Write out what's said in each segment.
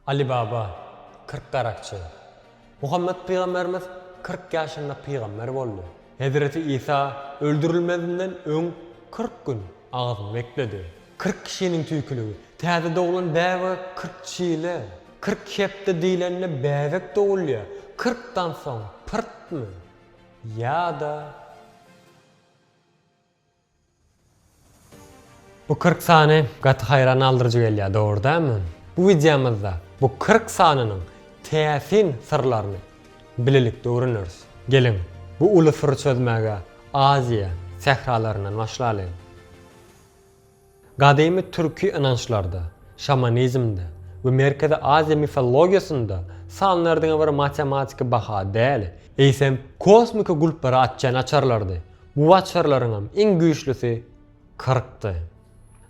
Aly baba, kyrk garakçy. Muhammet pygamberimiz kyrk ýaşynda pygamber boldy. Hezreti Isa öldürilmezinden öň kyrk gün agyz bekledi. Kyrk kişiniň tüýküligi. Täze doglan bäbege kyrk çile. Kyrk hepde diýlende bäbek dogulýar. Kyrkdan soň pyrtmy? Ýa-da. Bu kyrk sany gaty haýran galdyryjy gelýär, dogry dälmi? Bu wideomyzda bu kyrk sanynyň täsin syrlaryny bilelikde öwreneris. Geliň, bu uly syry çözmäge Aziýa sähralaryndan başlalyň. Gadymy türki ynançlarda, şamanizmde we Merkezi Aziýa mifologiýasynda sanlar diňe bir matematiki baha däl, eýsem, kosmiki gulplary açýan açarlardy. Bu açarlaryňam iň güýçlisi kyrkdy.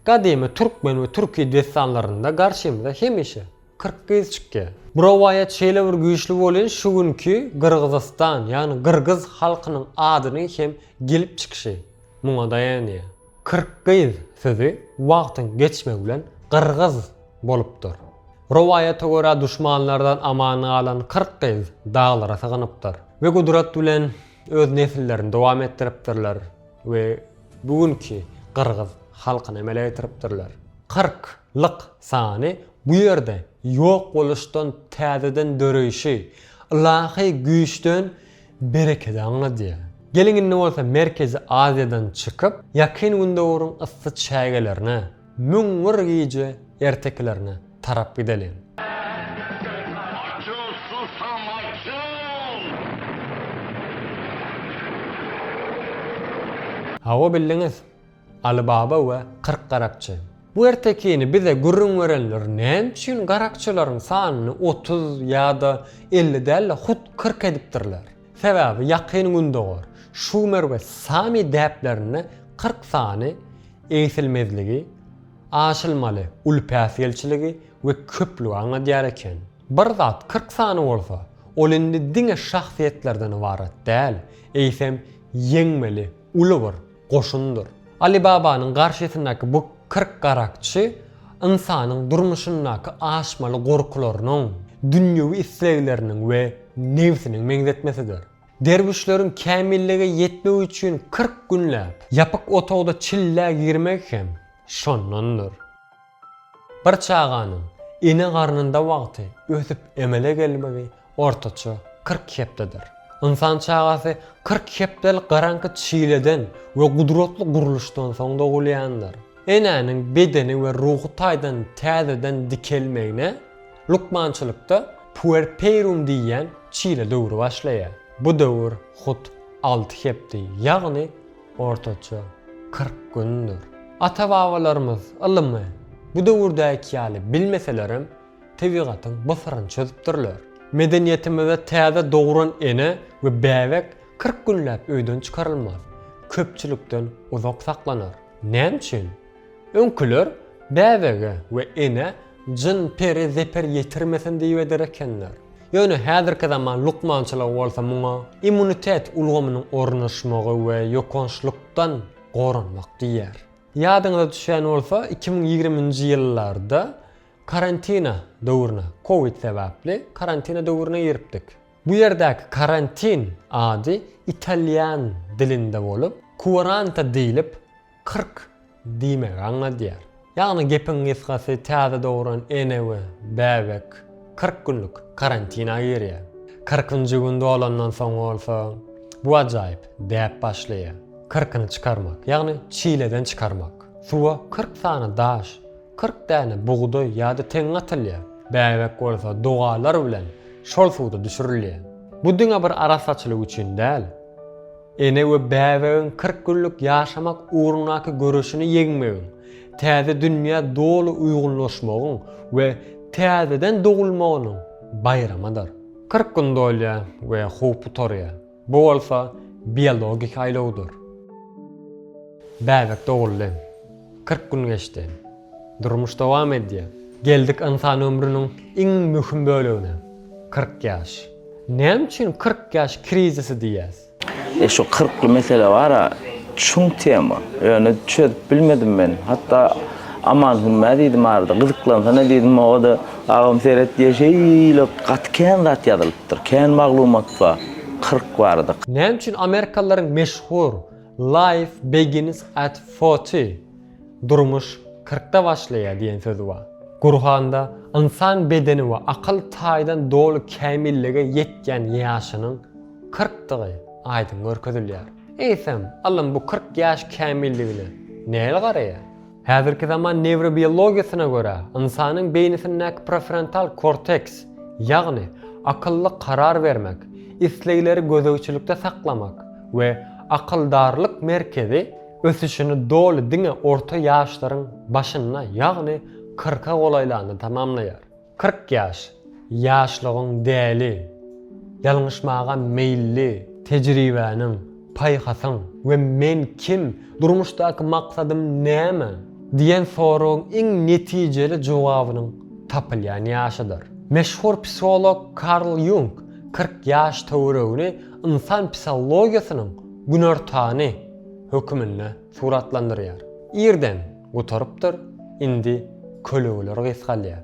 Gadymy türkmen we türki dessanlarynda garşymyza hemişe kyrk gyz çykýar. Bu rowaýat şeýle bir güýçli bolýan şu günki Gyrgyzystan, ýagny gyrgyz halkynyň adynyň hem gelip çykyşy muňa daýanýar. Kyrkgyz sözi wagtyň geçmegi bilen gyrgyz bolupdyr. Rowaýata görä duşmanlardan aman galan kyrkgyz daglara sygynypdyr we gudrat bilen öz nesillerini dowam etdiripdirler we bu günki gyrgyz halkyny emele getiripdirler. Kyrk, lyk, sany bu ýerde ýok boluşdan täzeden döreýşi, ylahy güýçden Berekeda aňladýa. Geliň indi bolsa Merkezi Aziýadan çykyp, Ýakyn Gündogaryň yssy çägelerine, Müň bir gije ertekilerine tarap gideliň. Açyl, susam, açyl! Hawa, bildiňiz. Aly baba we kyrk garakçy. Bu ertekini bize gürrüň berenler näme üçin garakçylaryň sanyny otuz ýa-da elli däl-de hut kyrk edipdirler? Sebäbi Ýakyn Gündogar, Şumer we Sami däplerinde kyrk sany egsilmezligi, aşylmaly uly päsgelçiligi we köplügi aňladýar eken. Bir zat kyrk sany bolsa, ol indi diňe şahsyýetlerden ybarat däl, eýsem ýeňmeli uly bir goşundyr. Ali Babanyň garşysyndaki bu kyrk garakçy ynsanyň durmuşyndaky aşmaly gorkularynyň, dünýewi islegleriniň we nebsiniň meňzetmesidir. Derwüşleriň kämillige ýetmegi üçin kyrk günläp ýapyk otagda çillä girmegi hem şondandyr. Bir çaganyň ene garnynda wagty ösüp emele gelmegi ortaça kyrk hepdedir. Ynsan çagasy kyrk hepdelik garaňky çileden we gudratly gurluşdan soň dogulýandyr. Enäniň bedeni we ruhy taýdan täzeden dikelmegine lukmançylykda puerpeirum diýýän çile döwri başlaýar. Bu döwür hut alty hepde, ýagny Ortaça, kyrk gündür. Ata-babalarymyz ylymy bu döwürdäki ýaly bilmeselerem, tebigatyň bu syryny çözüpdirler. Medeniýetimizde täze dogran ene we bäbek kyrk günläp öýden çykarylmaz, köpçülikden uzak saklanar. Näme üçin? Öňküler bäbege we enä jyn-peri zeper ýetirmesin diýip eder ekenler. Ýöne häzirki zaman lukmançylygy bolsa muňa immunitet ulgamynyň ornaşmagy we ýokançlykdan goranmak diýýär. Ýadyňyza düşýän bolsa, iki müň ýigrimi nji ýyllarda karantina döwrüne, covid sebäpli karantina döwrüne giripdik. Bu ýerdäki karantin ady italýan dilinde bolup, kuaranta diýlip, Kyrk diýmegi aňladýar. Ýagny gepiň gysgasy täze dogran ene we bäbek kyrk günlük karantina girýär. Kyrkynjy gün dolandan soň bolsa bu ajaýyp däp başlaýar. Kyrkyny çykarmak, ýagny çileden çykarmak. Suwa kyrk sany daş, kyrk däne bugdaý ýa-da teňňe atylýar. Bäbek bolsa dogalar bilen şol suwda düşürilýär. Bu diňe bir arassaçylyk üçin däl. Ene we bäbegiň kyrk günlük ýaşamak ugrundaky göreşini ýeňmegiň, täze dünýä doly uýgunlaşmagyň we täzeden dogulmagynyň baýramydyr. Kyrk gün dolýar we howp gutarýar, bu bolsa biologik aýlawdyr. Bäbek doguldy. Kyrk gün geçdi. Durmuş dowam edýär. Geldik ynsan ömrüniň iň möhüm bölegine, kyrk ýaş. Näme üçin kyrk ýaş krizisi diýýäs? E şu kyrkly mesele bar-a, çuň tema. Ýöne çözüp bilmedim men. Hatda Aman Hümmä diýdim arada, gyzyklansana diýdim, o-da, Agam seret diýýär, şeýle gaty kän zat ýazylypdyr, kän maglumat bar kyrk barada. Näme üçin amerikalylaryň meşhur Life begins at forty, Durmuş kyrkda başlaýar diýen söz bar. Gurhanda ynsan bedeni we akyl taýdan doly kämillige ýetýän ýaşynyň kyrkdygy aýdyň görkezilýär. Eýsem, ylym bu kyrk ýaş kämilligine nähili garaýar? Häzirki zaman newrobiologiýasyna görä, ynsanyň beýnisindäki prefrontal korteks, ýagny akylly karar bermek, islegleri gözegçilikde saklamak we akyldarlyk merkezi ösüşini doly diňe orta ýaşlaryň başynda, ýagny kyrka golaýlanda tamamlaýar. Kyrk ýaş, ýaşlygyň däli, ýalňyşmaga meýilli, tejribäniň, paýhasyň we men kim, durmuşdaky maksadym näme? diýen soragyň iň netijeli jogabynyň tapylýan ýaşydyr. Meşhur psiholog Karl Ýung kyrk ýaş töweregini ynsan psihologiýasynyň günortany höküminde suratlandyrýar. Irden gutarypdyr, indi kölegler gysgalýar.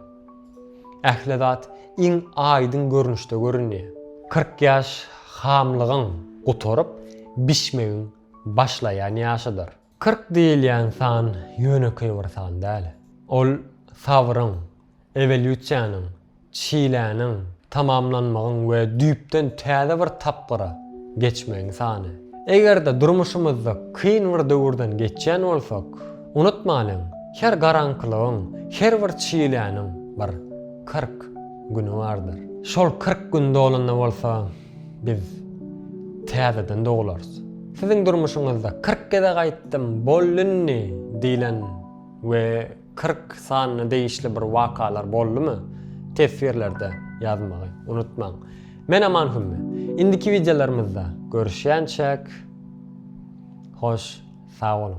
Ähli zat iň aýdyň görnüşde görünýär. Kyrk ýaş hamlygyň gutaryp, bişmegiň başlaýan ýaşydyr. Kyrk diýilýän san ýönekeý bir san däl. Ol sabryň, ewolýusiýanyň, çiläniň, tamamlanmagyň we düýpden täze bir tapgyra geçmegiň sany. Eger-de durmuşymyzda kyn bir döwürden geçýän bolsak, unutmalyň, her garaňkylygyň, her bir çiläniň bir kyrk güni bardyr. Şol kyrk gün dolanda bolsa, biz täzeden doglarys. Siziň durmuşyňyzda kyrk geze gaýtdym, bollynny diýlen we. Kyrk sanyna degişli bir wakalar boldumy teswirlerde ýazmagy unutmaň. Men Aman Hümmi. Indiki wideolarymyzda görüşýänçäk hoş sag boluň.